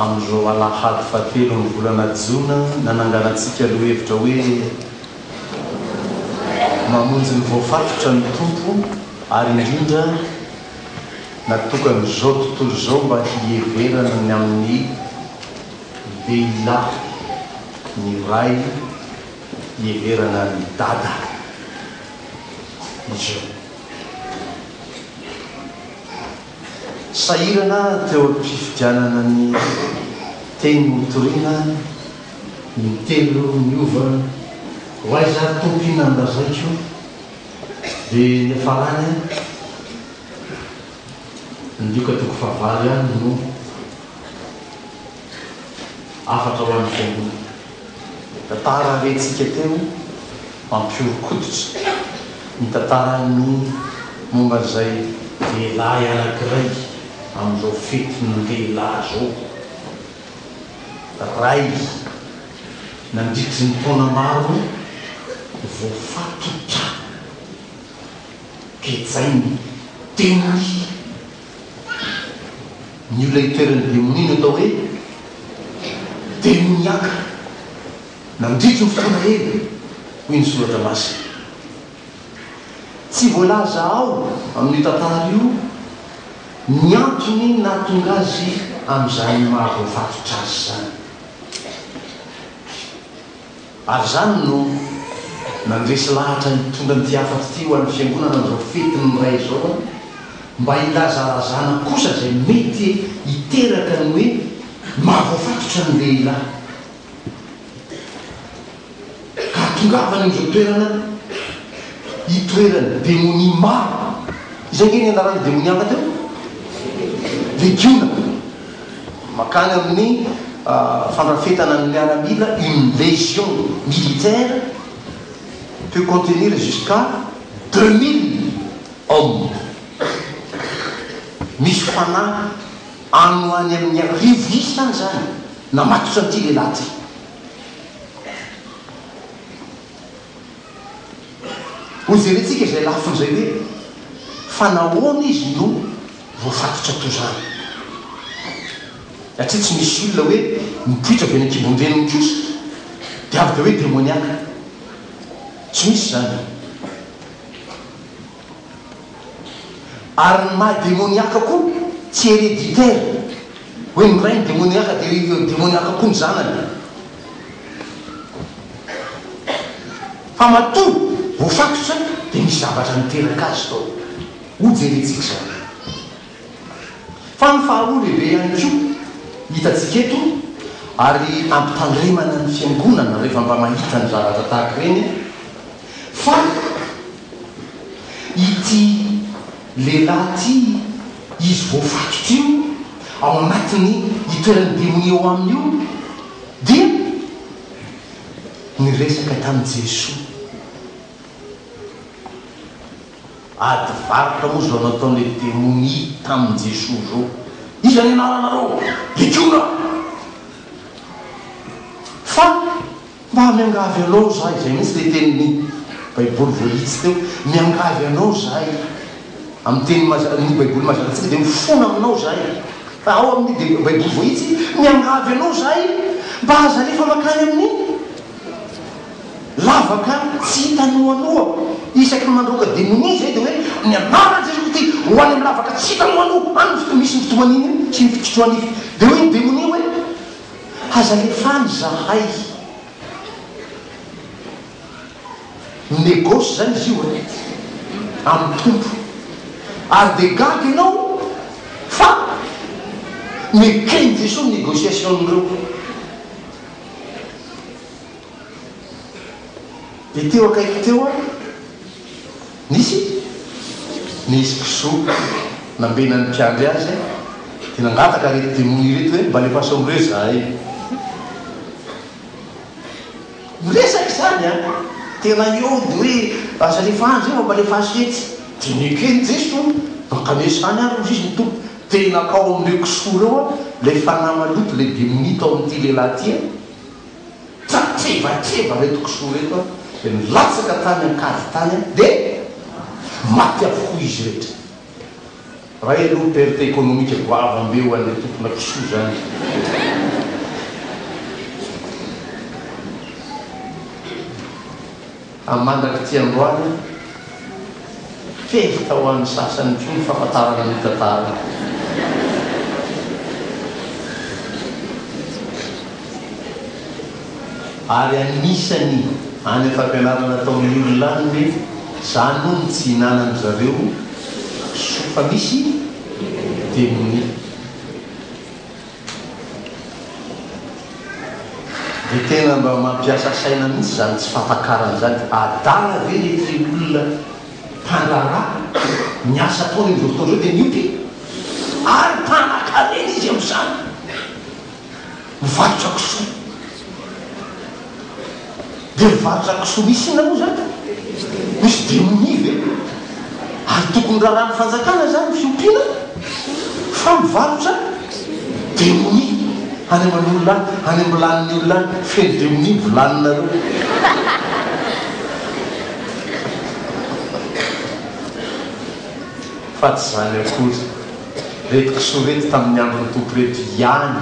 Amin'izao alahady fahatelo amin'ny volana jona, nananganantsika lohahevitra hoe, Mamonjy ny voafatotra ny Tompo, ary indrindra natokan'izao tontolo izao mba hiheverana ny amin'ny lehilahy ny ray hiheverana ny dada. Izy io. Sahirana teo am-pifidianana ny teny notoriana intelo niova ho aiza ary tompo inona no lazaiko dia niafarany ny lioka toko fahavalo ihany no Hafatra ho an'ny Fiangonana. Tantara rentsika teo mampihoron-koditra ny tantaran'ny momba an'izay lehilahy anankiray amin'izao fetin'ny lehilahy izao. Ray nandritry ny taona maro voafatotra. Gejain'ny teniny. Ny olona itoeran'ny demonia natao hoe demoniaka nandritry ny fotoana ela, hoy ny Soratra Masina. Tsy voalaza ao amin'io tantara io ny antony nahatonga azy amin'izany maha-voafatotra azy izany. Ary izany no nandresy lahatra nitondra an'ity hafatra ity ho an'ny Fiangonana amin'izao fetin'ny Ray izao an, mba hilazalazana kosa izay mety hiteraka ny hoe mahavoafatotra ny lehilahy. Ka hahatongavany amin'izao toerana hitoeran'ny demonia maro. Izay ange ny anaran'io demonia hafa teo? Legiona. Mankany amin'ny fandrafetana ny miaramila une légion militaire peut contenir jusqu'à deux mille hommes. Misy fanahy ano any amin'ny arivo isa any izany namatotra an'ity lehilahy ity. Hojerentsika izay lafiny izay hoe fa nahoana izy no Voafatotra toa izany. Satria tsy misy olona hoe mipoitra avy any an-kibon-dreniny kosa dia avy dia hoe demoniaka. Tsy misy izany. Ary ny maha demoniaka koa tsy hereditaire, hoe ny rainy demoniaka dia demoniaka koa ny zanany. Fa matoa voafatotra dia misy zavatra niteraka azy tao. Hojerentsika izao indray. Fa ny faharoa lehibe ihany koa hitantsika eto ary ampitandremana ny fiangonana rehefa mba mahita ny zavatra tahaka ireny fa ity lehilahy ity izy voafaty ity io ao anatiny itoeran'ny demonia ao aminy io dia niresaka tamin'i Jesoa. Ady varotra moa zao nataon'le demonia tamin'i Jesoa zao. Iza ny anaranareo? Legiona! Fa mba miangavy anao zahay, zay mihitsy le tenin'ny baiboly voahitsy teo, miangavy anao zahay, amin'ny teny mazava, ny baiboly mazava antsika dia mifona aminao zahay, fa ao amin'ny baiboly voahitsy, miangavy anao zahay mba aza alefa makany amin'ny. Lavaka tsy hita noanoa. Isaky ny mandroaka demonia izay dia hoe ny anaran'i Jesoa Kristy ho any amin'ny lavaka tsy hita noanoa any ny fotoana misy ny fitohan'iny iny sy ny fikitrohan'ify. Dia hoy ny demonia hoe aza alefa any izahay. Minegoce izany izy io e, amin'ny Tompo. Ary dia gaga ianao fa neken'i Jesoa ny negociation-n'ireo. Dia teo akaiky teo aho, nisy nisy kisoa nambenan'ny mpiandry azy, dia nangataka ireto demony ireto hoe mba alefaso amin'ireo izahay. Miresaka izany an! Tena hiody hoe aza alefaso izay fa mba alefaso etsy. Dia nekeny Jeso, mankanesa izany ary hoy izy ny Tompo, tena nakao amin'ireo kisoa ireo ilay fanahy maloto, ilay demonia tao amin'ity lehilahy ity. Tratrevatreva reto kisoa reto a! Dia nilatsaka tany ankady tany a! Dia maty avokoa izy rehetra. Ray aloha perte économique goava be ho an'le tompona kisoa zany. Amin'ny mandrak'ity androany, fehiko tao amin'ny sasany koa ny famantarana ny tantara. Ary anisany any am-pampianarana ataon'ny olona any ny hoe zany moa no tsy hinanan'ny zareo soa fa misy demonia. Dia tena mba mampiasa saina mihitsy izany tsy fampakarana izany. Adala ve ilay teny olona mpandraharaha? Ny asa ataony amin'izao fotoana izao dia miompy ary mpanakarena izy amin'izany. Mivarotra kisoa. Dia mivarotra kisoa misy inona moa izany? Misy demonia ve? Ary tokony rarahan'ny fanjakana izany ny fiompiana fa mivarotra demonia any aman'olona any, any am-bilanin'ny olona any, feno demonia ny vilaninareo. Fa tsy izany akory, ireto kisoa ireto tamin'ny andron'ny Tompo ireto ihany.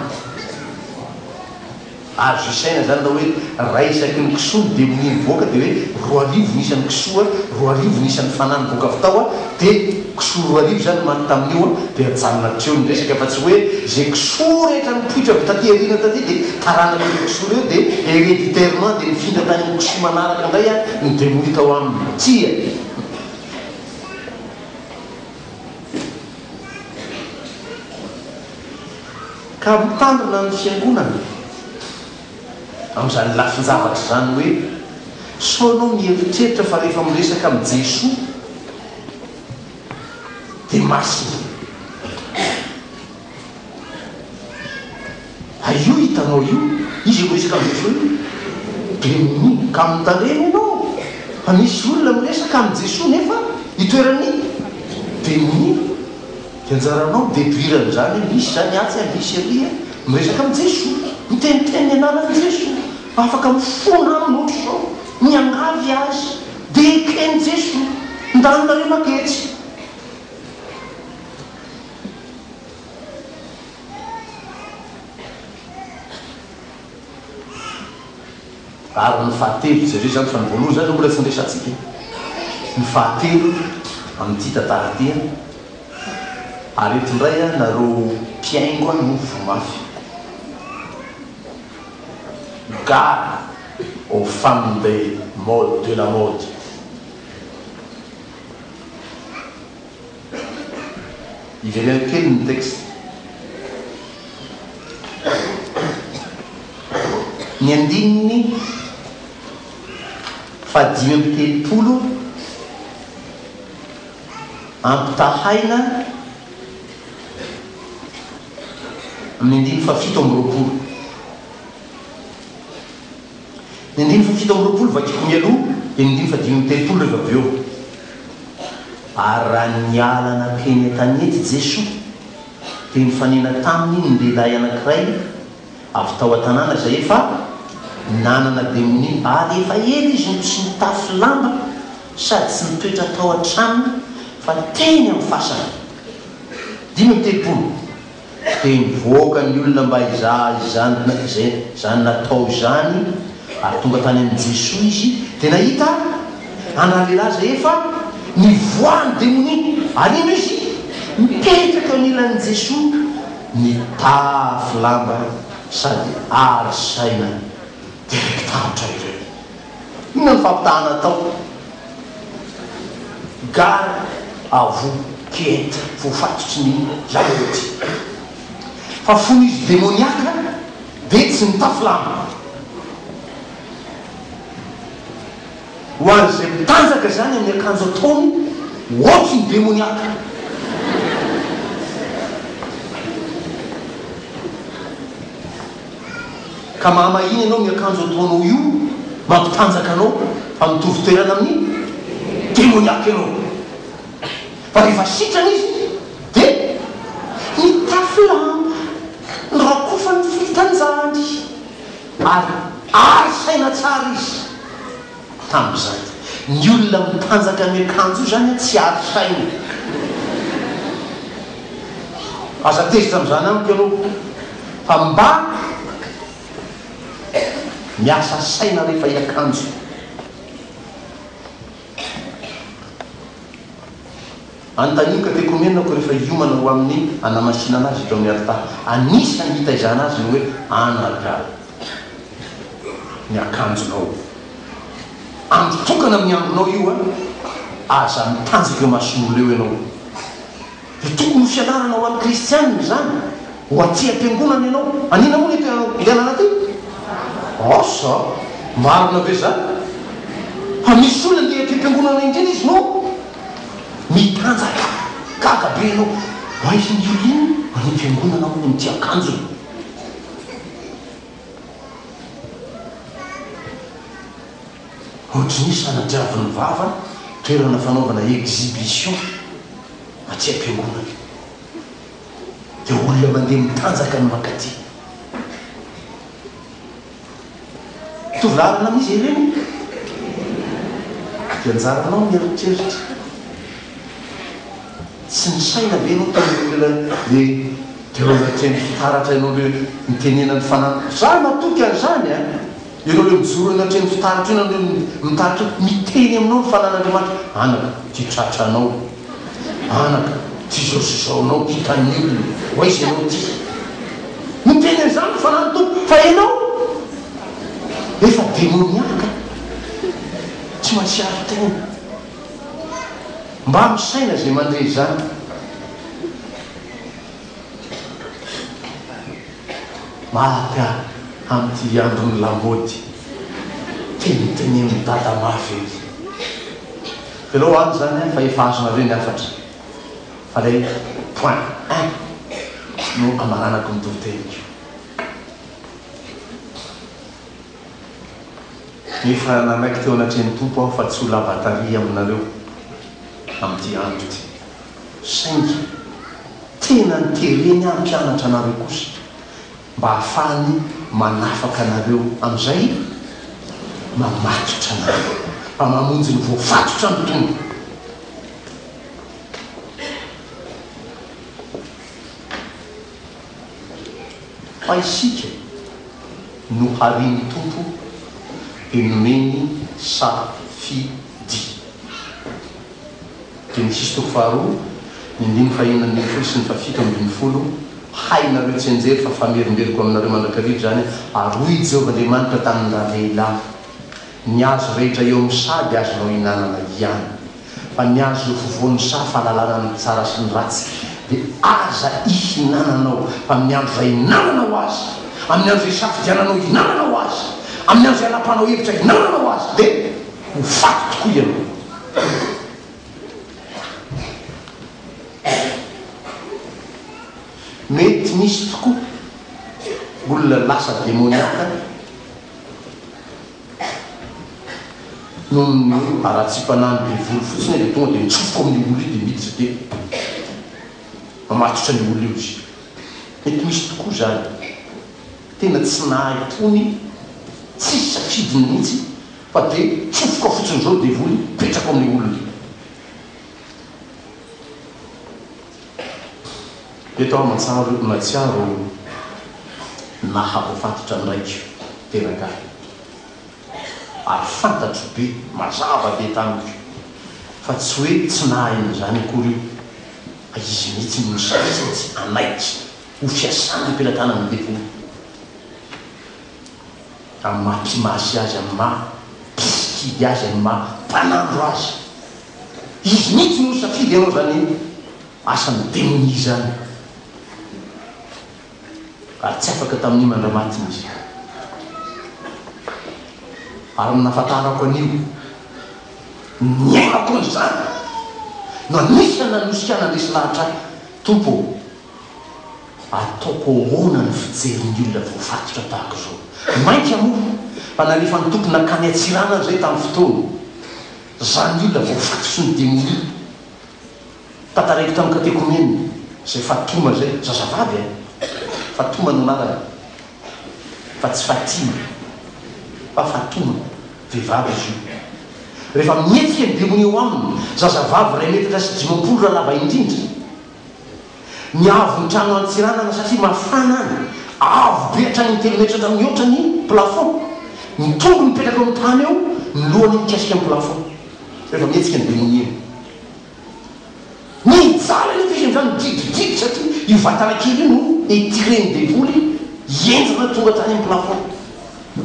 Azo isaina zany raha hoe ray isaky ny kisoa no dia mini mivoaka dia hoe roa arivo ny isan'ny kisoa, roa arivo ny isan'ny fanahy nivoaka avy tao dia kisoa roa arivo zany manko tamin'io dia ajanona hatreo ny resaka fa tsy hoe ze kisoa rehetra nipoitra avy taty aoriana taty dia taranak'ireo kisoa ireo dia hereditairement dia nifindra tany amin'ny kisoa manaraka indray ny demonia tao aminy. Tsia! Ka mitandrina ny fiangonana amin'izany lafin-javatra izany hoe sao ianao mieritreritra fa rehefa miresaka amin'i Jesoa dia masina. Ary io hitanao io, izy miresaka amin'i Jesoa io dia mino. Ka mitandrema ianao fa misy olona miresaka amin'i Jesoa nefa itoeran'ny demony. Dia anjaranao mi-deduire an'izany hoe misy izany atsy an, misy ery an. Miresaka amin'i Jesoa. Miteniteny ny anaran'i Jesoa. Afaka mifona aminy hoatry izao. Miangavy Azy. Dia eken'i Jesoa. Ndanonareo maketsy. Ary ny fahatelo, jereo izany fa ny voalohany izany aloha mbola tsy niresahantsika e! ny fahatelo amin'ity tantara ity an! ary eto indray an, nareo mpihaingo an no voa mafy. Gare aux femmes des modes, de la mode. Iveleno kely ny texte. Ny andininy fahadimy amby telopolo ampitahaina amin'ny andininy fahafito amby roapolo. Ny andininy fahafito amby roapolo vakiko mialoha dia ny andininy fahadimy amby telopolo rehefa avy eo. Ary raha niala nankeny an-tanety Jesoa, dia nifanena taminy ny lehilahy anankiray avy tao an-tanàna izay efa nanana demonia, ary efa ela izy no tsy nitafy lamba sady tsy nitoetra tao an-tranony fa teny amin'ny fasana. Dimy amby telopolo. dia nivoaka ny olona mba hizaha izany izay izany natao izany, ary tonga tany amin'i Jesoa izy, dia nahita an'ra lehilahy izay efa nivoahan'ny demonia, ary indro izy mipetraka eo anilan'i Jesoa, nitafy lamba sady ary saina, dia reki-tahotra ireo. Inona no fampitahana atao? Gare à vous qui êtes voafatotry ny lamaody. Fa fony izy demoniaka dia tsy nitafy lamba. Ho an'izay mpitanjaka izany amin'ny akanjo ataony hoatry ny demoniaka. Ka mama iny ianao miakanjo ataonao io mampitanjaka anao fa mitovy toerana amin'ny demoniaque ianao fa rehefa sitrana izy dia mitafy lamba norakofany filitanjandry ary ary saina tsara izy. Tamin'izay. Ny olona mitanjaka miakanjo io izany an tsy hary saina e. Aza tezitra amin'izany amiko ianao fa mba miasa saina rehefa hiakanjo. Anontanio katekomenako rehefa hiomana ho amin'ny hanamasinana azy eto amin'ny alitara. Anisan'ny hitaizana azy ny hoe anargaho ny akanjonao. Andro tokana amin'ny andronao io an! Aza mitanjaka eo mason'olona eo ianao. Dia tokony ho fianarana ho an'ny kristianina izany. Ho aty am-piangonana ianao. Anina moa ny toerana nividianana aty? Asa? Marina ve izany? Fa misy olona ndeha aty am-piangonana indrindra izy no. Mitanjaka! Gaga be ianao! Aiza ny Yolin any am-piangonana hono no tia akanjony? Ohatry ny hoe sanatria-vin'ny vava toerana fanaovana exhibition aty am-piangonana. Dia olona mandeha mitanjaka no mankaty. Mitovy lalana amin'izy ireny ka dia anjaranao ny eritreritra sy ny saina ve ianao toy ireo olona hoe dia ireo mitreny fitaratra ianao ireo mitenena ny fanahy izaho matoky an'izany a! ianao ireo mijoro eny anatrehan'ny fitaratra eny ianao ireo mitarika miteny aminao ny fanan'Andriamanitra anaka tia tratra anao Anaka, tsy izao sy izao anao hita ny olona ho aiza ianao ity? Niteny an'izany ny Fanahin'ny Tompo, fa ianao efa demoniaka, tsy mahatsiaro tena. Mba misaina izay mandre izany. Maty aho amin'ity andron'ny lamaody tenitenenin'i Dada mafy ity. Jereo any izany an fa efa azonareo ny hafatra fa ilay point un no amaranako ny toriteny ko. Efa nanaiky teo anatrehan'ny Tompo aho fa tsy ho lava tary aminareo amin'ity andro ity, saingy tena notereny aho hampianatra anareo kosa, mba hahafahany manafaka anareo amin'izay mamatotra anareo, mba mamonjy ny voafatotra ny Tompo. Fa isika no harian'ny Tompo dia nomeny safidy. Genesisy toko faharoa, ny andininy fahenina ambin'ny folo sy ny fahafito ambin'ny folo Hainareo tsianjery fa famerimberiko aminareo mandrakariva izany, ary hoy i Jehovah Andriamanitra tamin-dRalehilahy. Ny hazo rehetra eo amin'ny saha dia azonao ihinanana ihany. Fa ny hazo eo afovoan'ny saha fahalalana ny tsara sy ny ratsy dia aza ihinananao, fa amin'ny andro izay ihinananao azy, amin'ny andro izay isafidiananao ihinananao azy, amin'ny andro izay anapahanao hevitra ihinananao azy dia ho faty tokoa ianao. Mety misy tokoa olona lasa demoniaka Noho ny haratsiam-panahin'ny devoly fotsiny aho dia tonga dia nitsofoka ao amin'io olona io dia miditra dia mamatotra an'io olona io izy. Mety misy tokoa izany. Tena tsy nahay tony, tsisy safidiny mihitsy fa dia tsofoka fotsiny izao ny devoly, mipetraka ao amin'io olona io. Eto aho matsaro natsiaro nahavoafatotra ny raiko teraka ahy ary fantatro be mazava be tamiko fa tsy hoe tsy nahaino izany akory io fa izy mihitsy no nisasatsy hanaiky ho fiasana am-pelatanan'ny devoly. amin'ny maha mpimasy azy, amin'ny maha mpisikidy azy, amin'ny maha mpanandro azy. Izy mihitsy no nisafidy hanao izany asan'ny demonia izany, ary tsy afaka tamin'io mandramatiny izy. Ary ny nahafantarako an'io, niainako an'izany, no anisan'ny nanosika hanandresy lahatra ahy, Tompo ô! Ataoko ahoana ny fijery ny olona voafatotra tahaka izao? Mainka moa fa nalefan'ny Tompo nankany Antsiranana izay tamin'ny fotoana. Izany olona voafato sy nodemolir. Tantaraiko tamin'ny katekomenina izay Fatoma izay, zazavavy eh! Fatoma no anarany fa tsy Fatima fa Fatoma, vehivavy izy io. Rehefa mihetsika ny demonia ao aminy, zazavavy iray metatra sy dimampolo raha lava indrindra. Ny haavon'ny trano Antsiranana satria mafana any, avo be hatrany amin'ny telo metatra mihoatra ny plafond. Ny tongony mipetraka eo amin'ny tany eo, ny lohany mikasika ny plafond rehefa mihetsika ny bemoniany. Mijaly anefa izy amin'izany, midrigidigidry satria io vatana kely io no etiren'ny devoly henjana tonga hatrany amin'ny plafond.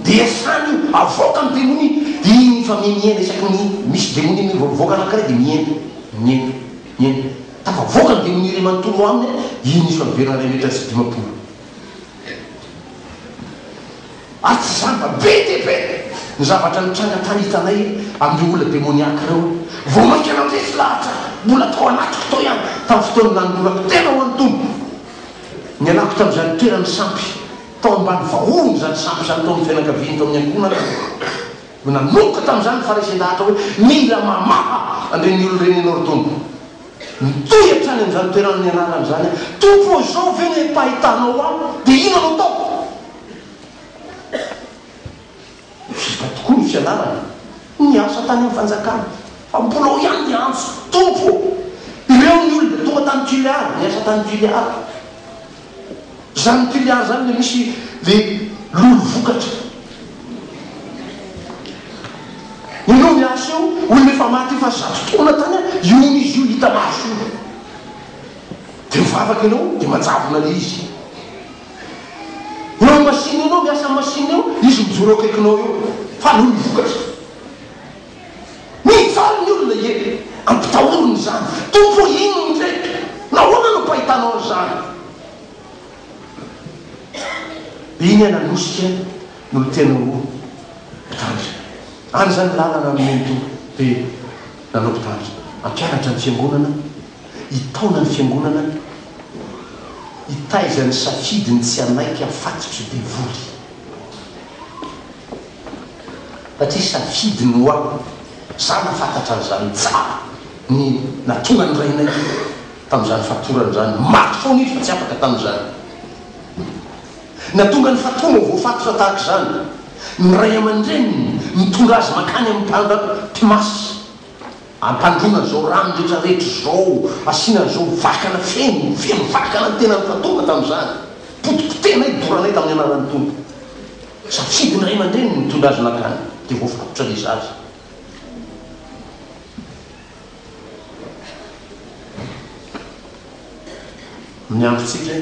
Dia asany io, avoaka ny demonia. Dia iny mifamihemihena isaky ny misy demonia mivoavoaka anankiray dia mihena, mihena. Eny, tafavoakany dia niry manontolo aminy i Niso Alibera iray metatra sy dimampolo. Ary tsy izany fa be dia be ny zavatra nitranga tany hitanay amin'ireo olona demoniaque ireo. Vao mainka nandresy lahatra mbola tao anatiko tao ihany tamin'ny fotoan'ny nanolorako tena ho an'ny Tompo. Nialako tamin'izany toerany sampy tao ambany vahohony izany sampy izany tao amin'ny fianakaviany tao amin'ny ankohonana aho. Koa nanomboka tamin'izany ny Farisean-dahatra hoe, Mila mamaha an'ireny olona ireny ianao ry Tompo. Nitohy hatrany amin'izany toerana nianarany izany aho. Tompo ô, izao ve no empahitanao ahy, dia inona no ataoko? Vita tokoa ny fianarany. Niasa tany amin'ny fanjakana. Fa mbola ao ihany ny antso, Tompo ô, ireo ny olona tonga tany Gileada, niasa tany Gileada. Zany piliar zany le misy le lolo vokatra. Ianao miasa eo, olona efa maty efa zato taona tany an, iona izy io hita maso io. De mivavaka ianao de manjavona le izy. Eo am machine ianao miasa am machine eo, izy mijoro eo akaikinao eo. Fa lolo vokatra. Mijaly ny olona ie, ampitahorina izany. Tompo ô inona indreto? Nahoana no pahitanao an'izany? Dia iny Analosika no tena ho mpitandrina. Any izany lalana nomeny ny Tompo dia nanao mpitandrina. Hampianatra ny Fiangonana, hitaona ny Fiangonana, hitaiza ny safidiny tsy hanaiky hafatotra devoly. satria safidy no hoa za nafantatra an'izany tsara ny natonan'i rainay tamin'izany fatorana izany maty foana izy fa tsy afaka tamin'izany natonga ny fatoana ho voafatotra tahaka izany ny ray aman-dreniny mitondra azy mankany amin'ny mpanda mpimasy ampandroana an'izao rano rehetra rehetra izao asiana an'izao vakana feno feno vakana ny tenany fatoana tamin'izany potipotehinay doranay tamin'ny anaran'ny Tompo Safidy ny ray aman-dreny ny mitondra azy nankany dia voafatotra ilay zaza. Amin'ny androntsika,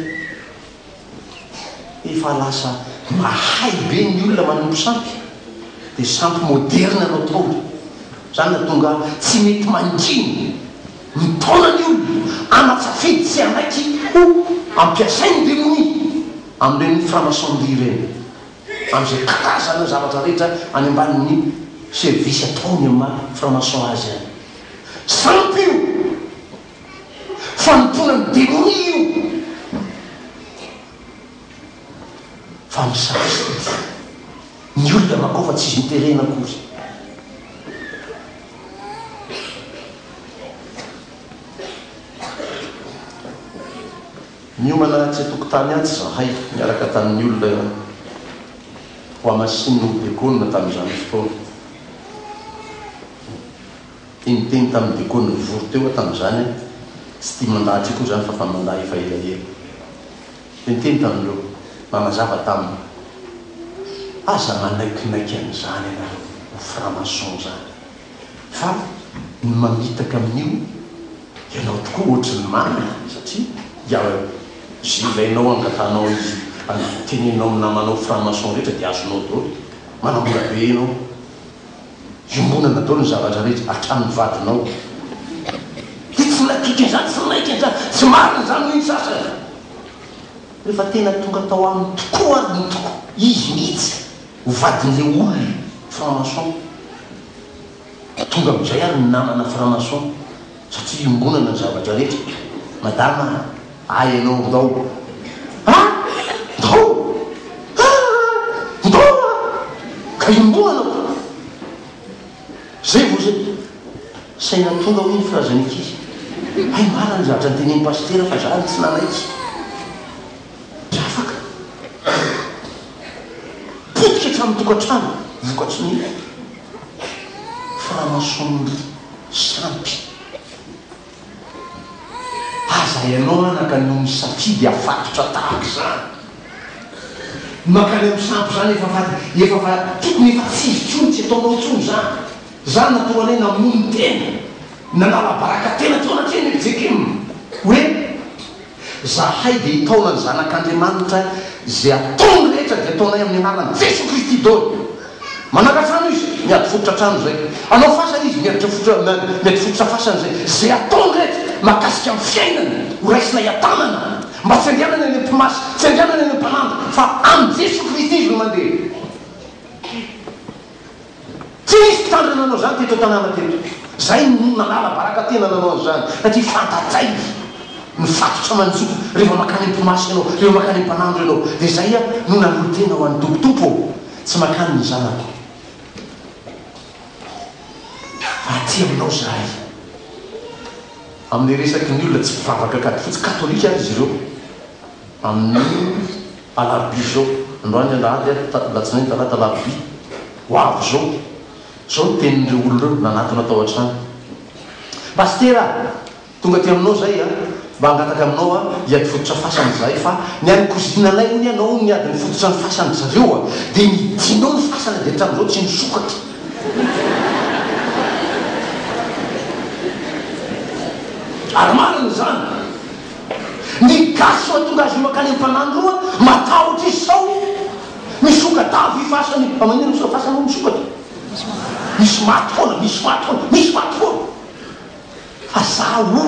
efa lasa mahay be ny olona manompo sampy, dia sampy moderina no ataony. Izany no nahatonga ahy tsy mety mangina. Ny taona ny olona ana-tsafidy tsy hanaiky ho ampiasain'ny demonia amin'ireny franc-maçonnerie ireny, amin'izay karazana ny zavatra rehetra any ambanin'ny servisy ataony amin'ny maha franc-maçon azy any. Sampy io! Fanompoana ny demonia io! Fa misafidy ny olona makao fa tsy izy miterena akory. Niomana atsy an-tokotany atsy izahay niaraka tamin'ny olona ho hamasinina ho dekona tamin'izany fotoana. Niteniteny tamin'ny dekona nivory teo aho tamin'izany aho, tsy tia mandà atsy koa izany fa mba mandà efa elaela. Niteny tamin'ireo nanazava taminy, Aza manaikinaiky an'izany ianareo ho franc-maçon izany, fa ny mamitaka amin'io ianao tokoa ohatry ny marina, satria dia jevainao, angatanao izy, teneninao amin'ny namanao franc-maçon rehetra dia azonao daholo, manamora be ianao. iombonana daholo ny zavatra rehetra hatramin'ny vadinao dia tsy nadika izany tsy naika izany tsy marina izany hoy ny sasany rehefa tena tonga tao aminy tokoa ary ny tokoa izy mihitsy ho vadin'ilay olona franc-maçon tonga amin'izay ary ny namana franc-maçon Satria iombonana ny zavatra rehetra. Madama a! Hay ianao, ndao a! Ndao a! Ndao a! Ka iombonana ko! Zay vao zay! Saina tonga hoy ny filazan'ny ankizy. Hay marina ny zavatra notenenin'i Pasitera fa za no tsy nanaiky. Tsy afaka. Potika hatramin'ny tokantrano vokatry ny. Franson-dry sampy. Aza ianao anaka no misafidy afatotra tahaka izany. Ny mankany amin'ny sampy izany efa fa efa fa tokony efa tsy izy intsony, tsy ataonao intsony izany. Za natoa anay namono tena, nanala baraka tena teo anatrehan'i Eljekim hoe Zahay dia hitaona ny Zanak'Andriamanitra, izay ataony rehetra dia ataonay amin'ny anaran'i Jesoa Kristy dôly. Manaka trano izy, miady fototra trano izay. Hanao fasana izy, miady fototra fasana izay. Izay ataony rehetra mahakasika amin'ny fiainany, ho raisinay an-tanana, mba tsy andehanany any amin'ny mpimasy, tsy andehanany any amin'ny mpanandro, fa amin'i Jesoa Kristy izy no mandeha. Tsy nisy mpitandrina nanao izany teto an-tanàna teto. Izay no nanala baraka tena nanao an'izany, satria fantatray ny fatotra manjoka rehefa mankany am-pimasy ianao, rehefa mankany am-panandro ianao. Dia izay aho no nanolo-tena ho an'ny Tompo, Tompo ô, tsy mankany ny zanako, fa aty Aminao izahay. Amin'ny resaky ny olona tsy mpivavaka katfotsy, katolika ary izy ireo, amin'ny. Alarobia izao, androany alahady ary alatsinainy talata alarobia ho avy izao. Izao no tenin'ireo olona ireo nanatona tao an-trano. Pasitera a! Tonga aty aminao izahay a! Mba hangataka aminao a! Hiady fototra fasana izahay fa ny any kozinanay hono ianao hono niady ny fototra ny fasan-dry zareo a! Dia nidinao ny fasana dia hatramin'izao tsy nisokatra. Ary marina izany. Ny gasy mahatonga azy io mankany amin'ny fanahy ny roa, matahotra izy sao misoka-dava hifasana io. Fa maninona sao fasana hono misokatra? Misy maty foana, misy maty foana, misy maty foana. Fa za hono,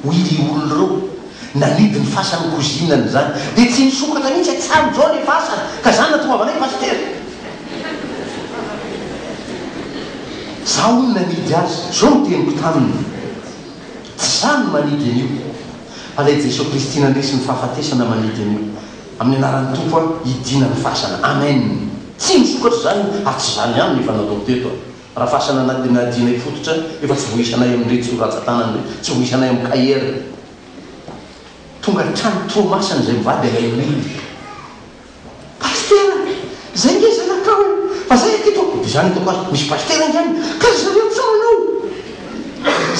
hoy ireo olona ireo, nanidy ny fasan'ny cousinany izany, dia tsy nisokatra mihitsy hatramin' izao ilay fasana, ka za natoavana ahy pasitera. Za hono nanidy azy, izao no teniko taminy. Tsy izaho no manidy an'io, fa ilay Jesoa Kristy nandresy ny fahafatesana manidy an'io. Amin'ny anaran'ny Tompo aho hidina ny fasana. Amen. Tsy misokatra izany ary tsy izany ihany no efa natao teto. Raha fasana nadinadinay fototra efa tsy voisanay amin'iretsy rantsan-tanana iretsy, tsy voisanay amin'ny KR. Tonga hatrany Toamasina izay mivady ilay olona. Pasitera anie! Zay nge zanakao e! Fa zay aty toa de zany hitako azy, misy pasitera nge any ka ry zareo tsa manao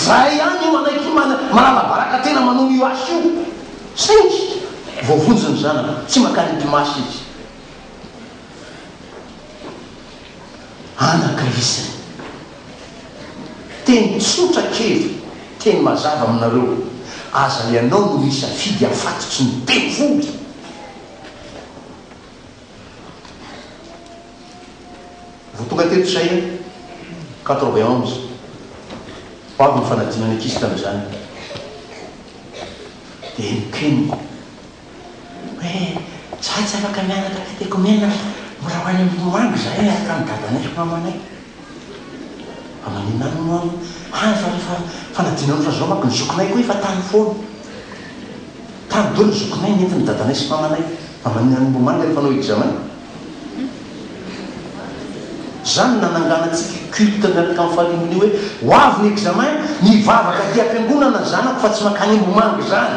zay ihany io manaiky mana, manalabaraka tena manao io asa io saingy voavonjy ny zanany tsy makany mpimasy izy anaka izy teny tsotra kely teny mazava aminareo aza ianao no misafidy afatotsy ny devoly. Vao tonga teto izay an, quatre-vingt-onze, vao avy nifanadina ny ankizy tamin'izany, dia henok'henoko hoe, izaho tsy afaka mianatra katekomena, mbola ho any ambony ho any izahay miaraka amin'i dadanay sy mamanay. Fa maninona any moa ary? Any fa rehefa fanadino any fa zao manko ny zokinay koa efa tany foana. Tany dolo ny zokinay nentin'ny dadanay sy mamanay. Fa maninona any moa manga ny mpanao examen? Zany no nanangana antsika culte miaraka amin'ny famille ny hoe ho avy ny examen mivavaka aty am-piangonana ny zanako fa tsy mankany Ambohimanga izany.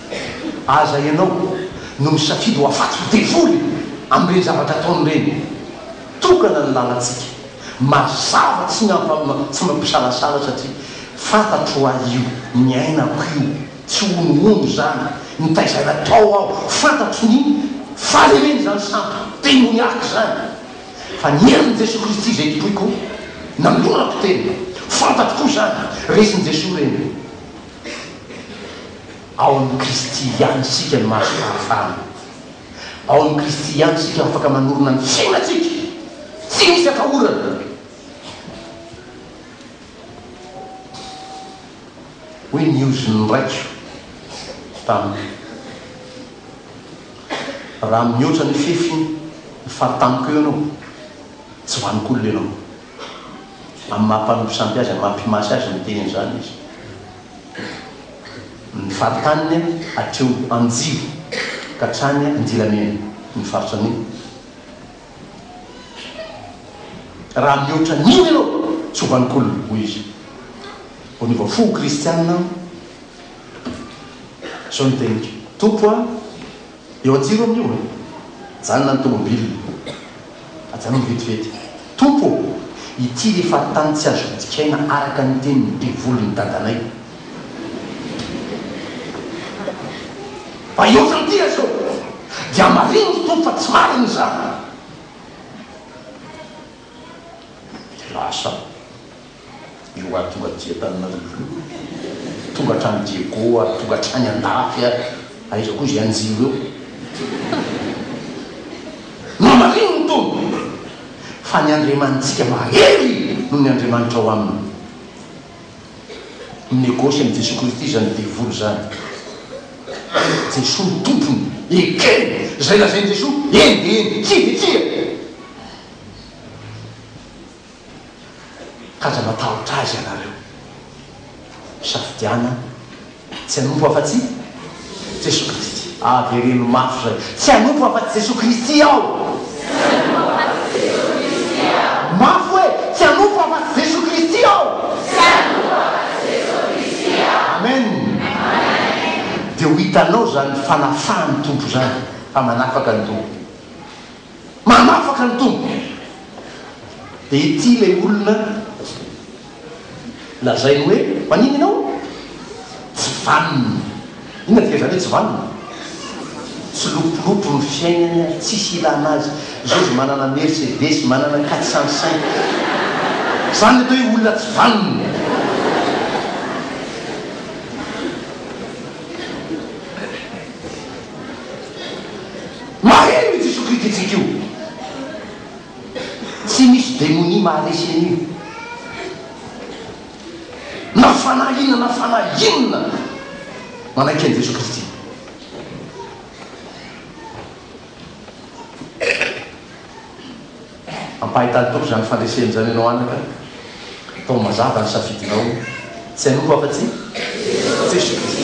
Aza ianao no misafidy ho afaty devoly amin'ireny zavatra ataony ireny. Tokana ny lalantsika. Mazava tsy ny tsy mampisalasala satria fantatro hoa io niainako io tsy honohono izany nitaiza natao aho fantatro ny fahalemen'izany sampy demoniaque izany fa ny herin'i Jesoa Kristy izay tompoiko nanolorako tena fantatro koa izany resin'i Jesoa ireny Ao amin'i Kristy ihany isika no mahazo fahafahana. Ao amin'i Kristy ihany isika afaka manorina ny fiainantsika, tsy misy atahorana. Hoy ny ozin'ny raiko tamiko, Raha mihoatra ny fefy ny fary tamiko eo ianao, tsy ho an'olona ianao. amin'ny maha mpanompon-tsampy azy, amin'ny maha mpimasy azy miteny an'izany izy. Ny faritaniny hatreo Anjibo ka hatrany Andilamena ny faritra anio. Raha mihoatra an'iny ianao, tsy ho vanon-kolona, hoy izy. Vao niova fo ho kristianina aho. Izao ny teniko, Tompo a! Eo an-jiro amin'io e! Mijanona ny tomobil. Ajanony vetivety. Tompo ô! Ity ilay faritany tsy azo vidikaina araka ny tenin'ny devolin'i dadanay. Mba hihoatra an'ity ra zao! Dia marino ry Tompo fa tsy marina izany. Dia lasa. Ireo ary tonga aty Tananarivo io, tonga hatrany Diego ary tonga hatrany Andafy ary aiza koa izay anjima eo. Mamarino ny Tompo fa ny Andriamanitsika mahery noho ny Andriamanitra ao aminy. Minegosy amin'i Jesoa Kristy izany devoly izany. Jesoa no Tompony, ekeny izay lazain'i Jesoa, eny dia eny, tsia dia tsia. ka aza matahotra azy ianareo. Misafidiana tsy hanompo afa-tsy Jesoa Kristy. Avereno mafy izay, Tsy hanompo afa-tsy Jesoa Kristy aho. Mafy hoe, Tsy hanompo afa-tsy Jesoa Kristy aho. Amen. Dia ho hitanao izany fanafahan'ny Tompo izany fa manafaka ny doha. Manafaka ny Tompo. Dia ity ilay olona lazainy hoe, Manina ianao? Tsy vanona. Inona dika izany hoe tsy vanona? Tsy lopolopo ny fiainany ary tsisy ilana azy. Jejo manana Mercedes, manana quatre cent cinq. Izany ilay atao hoe olona tsy vanona. Maheno ity sokrititsika io. Tsy misy demonia maharesy an'io. Na fanahy inona na fanahy inona manaiky an'i Jesoa Kristy. Ampahitan'ny Tompo izany fandreseny izany ianao anaka. Atao mazava ny safidinao. Tsy hanompo afa-tsy Jesoa Kristy.